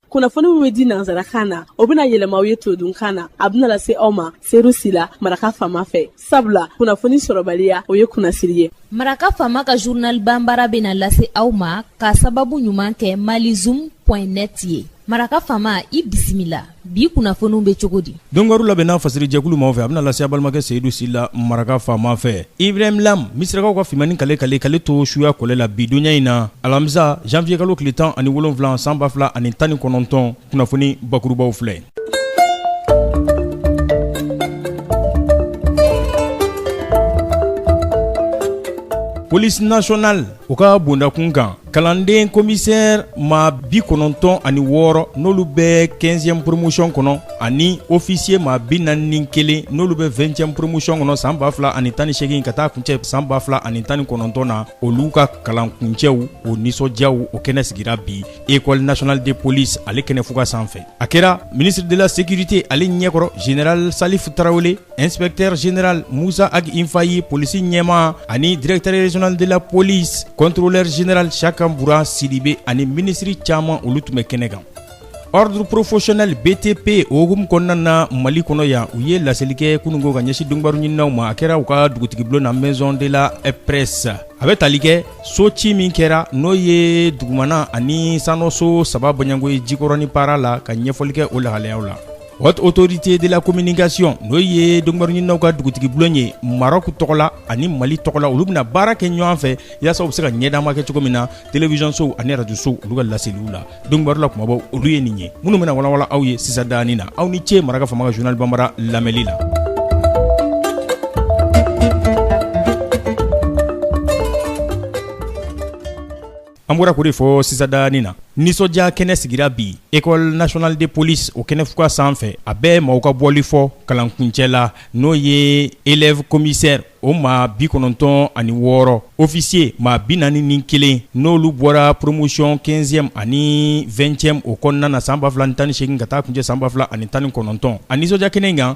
kunnafoni min bɛ di nanzarakan na o bɛna yɛlɛma aw ye todunkan na a bɛna lase aw ma seru sila maraka fama fɛ sabula kunnafoni sɔrɔbaliya o ye kunnasiri ye maraka fama ka journal banbaara bɛna lase aw ma ka sababu ɲuman kɛ malizum net ye maraka fama i bisimila bi kunnafoniw bɛ cogo di dɔnkibaru labɛnna fasirijɛkulu maaw fɛ a bɛna lase aw balimakɛ seyidu sila maraka faama fɛ ibrahim lam misirakaw ka fimanni kale kale k'ale to suya kɔlɛ la bi donya in na alamisa janwiyekalo tile tan ani wolonwula san ba fila ani tan ni kɔnɔntɔn kunnafoni bakurubaw filɛ police nationale o ka bondakun kan kalanden commissaire maa bi kɔnɔntɔn ani wɔɔrɔ n'olu bɛ quinzième promotion kɔnɔ ani officier maa bi naani ni kelen n'olu bɛ vingtième promotion kɔnɔ san ba fila ani tan ni seegin ka taa kuncɛ san ba fila ani tan ni kɔnɔntɔn na olu ka kalan kuncɛw o nisɔndiyaw o kɛnɛ sigira bi école nationale de police ale kɛnɛ fuga sanfɛ a kɛra ministre de la sécurité ale ɲɛkɔrɔ général salifu tarawele Inspecteur général Musa Ag Infayi, polisi ɲɛmaa ani directeur régional de la police, contrôleur général Siyaka Buran Sidibe ani minisiri caman olu tun bɛ kɛnɛ kan. Ordre professionnel BTP o hukumu kɔnɔna na Mali kɔnɔ yan, u ye laseli kɛ kunungo ka ɲɛsin dɔnkibaru ɲininnaw ma, a kɛra u ka dugutigibulon na maison de la presse a bɛ tali kɛ so ci min kɛra n'o ye dugumana ani sanɔso saba bɔɲɔgɔnko ye Jikɔrɔni Para la ka ɲɛfɔli kɛ o lahalayaw la. Haute autorité de la communication n'o ye dɔnkibaruɲininaw ka dugutigiblon ye Maroc tɔgɔ la ani Mali tɔgɔ la olu bɛna baara kɛ ɲɔgɔn fɛ yasa u bɛ se ka ɲɛdaama kɛ cogo min na télévision sow ani radio sow olu ka laseliw la dɔnkibaru la kumabaw olu ye nin ye minnu bɛna walawala aw ye sisan daanin na aw ni ce maraka fama ka journal banbaara lamɛli la An bɔra k'o de fɔ sisan daanin na, nisɔndiya kɛnɛ sigira bi école nationale de police o kɛnɛfuga sanfɛ, a bɛ maaw ka bɔli fɔ kalankuncɛ la, n'o ye élève commissaire o maa 96 officiers maa 41 n'olu bɔra promotion 15 ème ani 20 ème o kɔnɔna na san 2018 ka taa kuncɛ san 2019 a nisɔndiya kɛnɛ in kan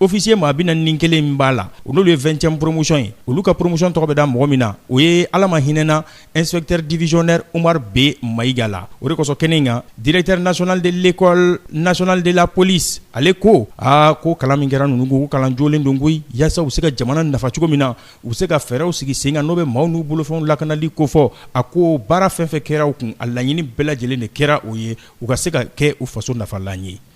officier maa bi naani ni kelen min b'a la n'olu ye vingtième promotion ye olu ka promotion tɔgɔ bɛ da mɔgɔ min na o ye ala ma hinɛna inspecteur divisionnaire umaru b mayiga la o de kosɔn kɛnɛ in kan directeur national de l'école nationale de la police ale ko a ko kalan min kɛra ninnu kun ko kalan jolen don koyi yaasa u bɛ se ka jamana nafa cogo min na u bɛ se ka fɛɛrɛw sigi sen kan n'o bɛ maaw n'u bolofɛnw lakanali kofɔ a ko baara fɛn fɛn kɛra u kun a laɲini bɛɛ lajɛlen de kɛra o ye u ka se ka kɛ u faso nafalan ye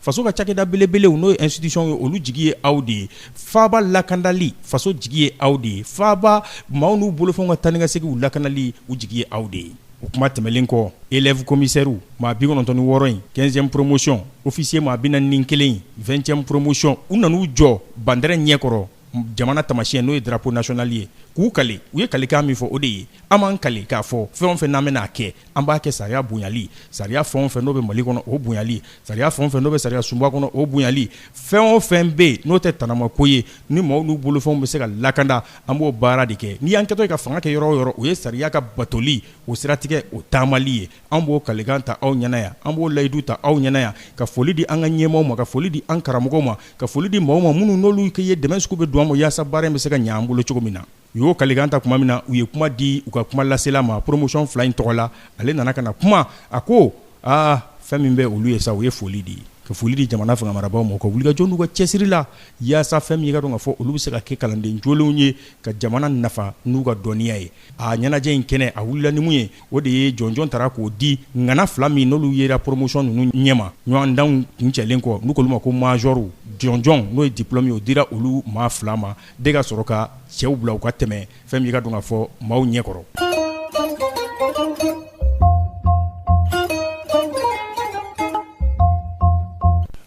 Faso ka cakɛda belebelew n'o ye institution ye olu jigi ye aw de ye faaba lakandali faso jigi ye aw de ye faaba maaw n'u bolofɛnw ka taa ni ka seginw lakandali u jigi ye aw de ye o kuma tɛmɛlen kɔ élèves commissaires maa 96 in 15 ème promotion officier maa 41 in 20 ème promotion u nan'u jɔ bandarɛn ɲɛkɔrɔ jamana tamasiyɛn n'o ye drapeau national ye k'u kale u ye kalekan min fɔ o de ye an b'an kale k'a fɔ fɛn o fɛn n'an bɛn'a kɛ an b'a kɛ sariya bonyali sariya fɛn o fɛn n'o bɛ mali kɔnɔ o bonyali sariya fɛn o fɛn n'o bɛ sariya sunba kɔnɔ o bonyali fɛn o fɛn bɛ yen n'o tɛ tanamako ye ni maaw n'u bolofɛnw bɛ se ka lakanda an b'o baara de kɛ n'i y'an kɛtɔ ye ka fanga kɛ yɔrɔ o yɔrɔ o ye sariya ka batoli o siratigɛ o taamali ye an b'o kalikan ta aw ɲɛna yan an b'o layidu ta aw ɲɛna yan ka foli di an ka ɲɛmaaw ma ka foli di an karamɔgɔw ma ka foli di maaw ma minnu n'olu ye dɛmɛ sugu bɛɛ don an ma yaasa baara in bɛ se ka ɲɛ an bolo cogo min na u y'o kalikan ta tuma min na u ye kuma di u ka kuma lasela ma promotion fila in tɔgɔ la ale nana ka na kuma a ko aa fɛn min bɛ olu ye sa u ye foli di ka foli di jamana fangamarabaaw ma u ka wulikajɔ n'u ka cɛsiri la yaasa fɛn min ye ka dɔn ka fɔ olu bɛ se ka kɛ kalanden jolenw ye ka jamana nafa n'u ka dɔnniya ye a ɲɛnajɛ in kɛnɛ a wulila ni mun ye o de ye jɔnjɔn tara k'o di ŋana fila min n'olu yera promotion ninnu ɲɛma ɲɔgɔndanw kuncɛlen kɔ n'u k'olu ma ko majorw jɔnjɔn n'o ye diplôme ye o dira olu maa fila ma de ka sɔrɔ ka cɛw bila u ka tɛmɛ fɛn min ye ka dɔn k'a fɔ maaw ɲɛkɔrɔ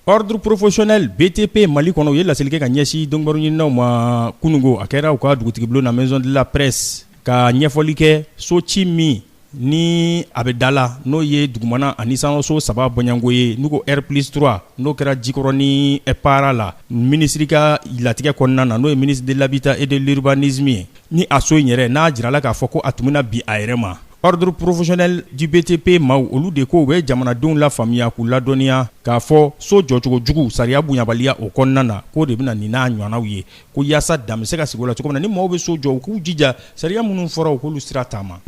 ordre professionnel BTP mali kɔnɔ u ye laseli kɛ ka ɲɛsin donkibaru ɲininaw ma kunungo a kɛra u ka dugutigi bulon na maison de la presse ka ɲɛfɔli kɛ so ci min ni a bɛ da la n'o ye dugumana ani sanso saba bɔɲɔgɔnko ye n'u ko R plus trois n'o kɛra Jikɔrɔni Para la minisiri ka latigɛ kɔnɔna na n'o ye ministre de l'habitat et de l'urbanisme ye ni a so in yɛrɛ n'a jirala k'a fɔ ko a tun bɛna bin a yɛrɛ ma ordre professionnel du BTP maaw olu de ko u bɛ jamanadenw lafaamuya k'u ladɔnniya k'a fɔ so jɔcogo jugu sariya bonyabaliya o kɔnɔna na k'o de bɛ na nin n'a ɲɔgɔnnaw ye ko yaasa dan bɛ se ka sigi o la cogo min na ni maaw bɛ so jɔ u k'u jija sariya minnu fɔra u k'olu sira taama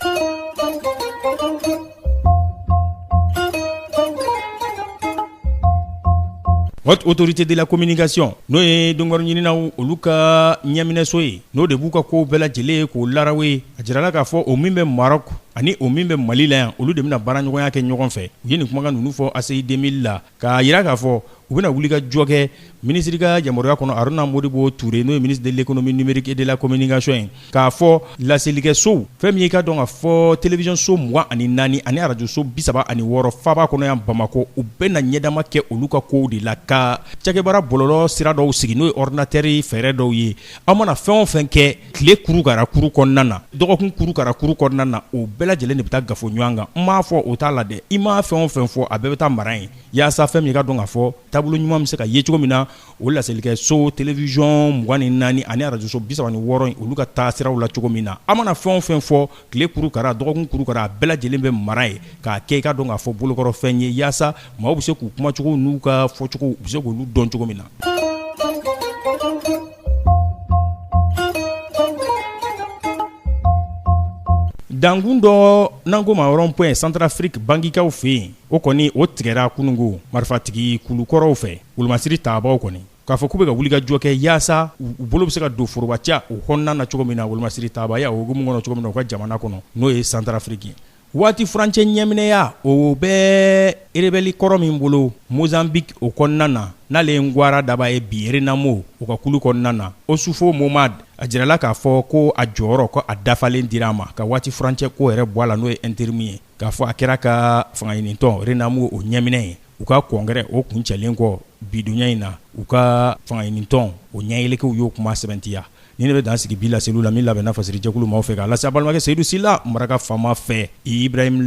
Haute autorité de la communication n'o ye donkibaru ɲininaw olu ka ɲɛminɛso ye n'o de b'u ka kow bɛɛ lajɛlen ye k'o laraw ye a jirala k'a fɔ o min bɛ Maroc ani o min bɛ Mali la yan olu de bɛna baaraɲɔgɔnya kɛ ɲɔgɔn fɛ u ye nin kumakan ninnu fɔ ACI 2000 la K'a jira k'a fɔ u bɛna wuli ka jɔ kɛ minisiri ka yamaruya kɔnɔ Aruna Modibo Ture n'o ye ministre de l'économie numérique et de la communication ye k'a fɔ laselikɛsow fɛn min ye i k'a dɔn k'a fɔ television so mugan ani naani ani arajo so bi saba ani wɔɔrɔ faaba kɔnɔ yan Bamakɔ u bɛna ɲɛdama kɛ olu ka kow de la ka cakɛbaara bɔlɔlɔ sira dɔw sigi n'o ye ordinateur fɛɛrɛ dɔw ye aw mana fɛn o fɛn kɛ tile kurukara kuru kɔnɔna na dɔgɔkun kurukara kuru kɔnɔna na o bɛɛ lajɛlen de bɛ taa kafo ɲɔgɔn kan n m'a fɔ o t'a la dɛ i maa fɛn o fɛn fɔ a bɛɛ bɛ taa mara yen yaasa fɛn min ye k'a dɔn k'a fɔ taabolo ɲuman bɛ se ka ye cogo min na o laselikɛ so television mugan ni naani ani arajo so bi saba ni wɔɔrɔ in olu ka taa siraw la cogo min na a mana fɛn o fɛn fɔ tile kurukara dɔgɔkun kurukara a bɛɛ lajɛlen bɛ mara yen k'a kɛ i k'a dɔn k'a fɔ bolokɔrɔfɛn ye yaasa maaw bɛ se k'u kumacogo n'u ka fɔcogo u bɛ se k'olu dɔn cogo min na dankun dɔ n'an k'o ma rond-point santarafiriki bangikaw fɛ yen o kɔni o tigɛra kununko marifatigi kulu kɔrɔw fɛ wolomasiri taabaaw kɔni k'a fɔ k'u bɛ ka wuli ka jɔ kɛ yaasa u bolo bɛ se ka don forobaca o kɔnɔna na cogo min na wolomasiri taabaya o hukumu kɔnɔ cogo min na u ka jamana kɔnɔ n'o ye santarafiriki ye waati furancɛ ɲɛminɛya o bɛ erebɛli kɔrɔ min bolo mozanbiki o kɔnɔna na n'ale ye ngwara daba ye bi renamo o ka kulu kɔnɔna na osufo momad a jirala k'a fɔ ko a jɔyɔrɔ ko a dafalen dira a ma ka waati furancɛ ko yɛrɛ bɔ a la n'o ye interimu ye k'a fɔ a kɛra ka fangaɲinitɔn renamo o ɲɛminɛ ye u ka kɔngɛrɛ o kuncɛlen kɔ bidonya in na u ka fangaɲinitɔn o ɲɛylikɛw y'o kuma sɛbɛntiya ni ne bɛ dan sigi bi laseliw la min labɛnna fasiri jɛkulu maaw fɛ k'a lase a balimakɛ seyidu sila maraka faama fɛ ibrahimu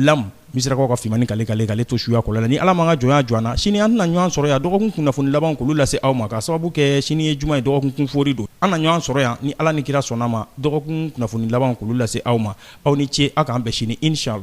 misirakaw ka fini kale kale ale to suya kɔlɛ ni ala ma ka jɔn jɔ na sini an na ɲɔgɔn sɔrɔ yan dɔgɔkun kunnafoni laban k'olu lase aw ma k'a sababu kɛ sini ye juma ye dɔgɔkun kunfɔri don an na ɲɔgɔn sɔrɔ yan ni ala ni kira sɔnna a ma dɔgɔkun kunnafoni laban k'olu lase aw ma aw ni ce aw k'an bɛn sini inshala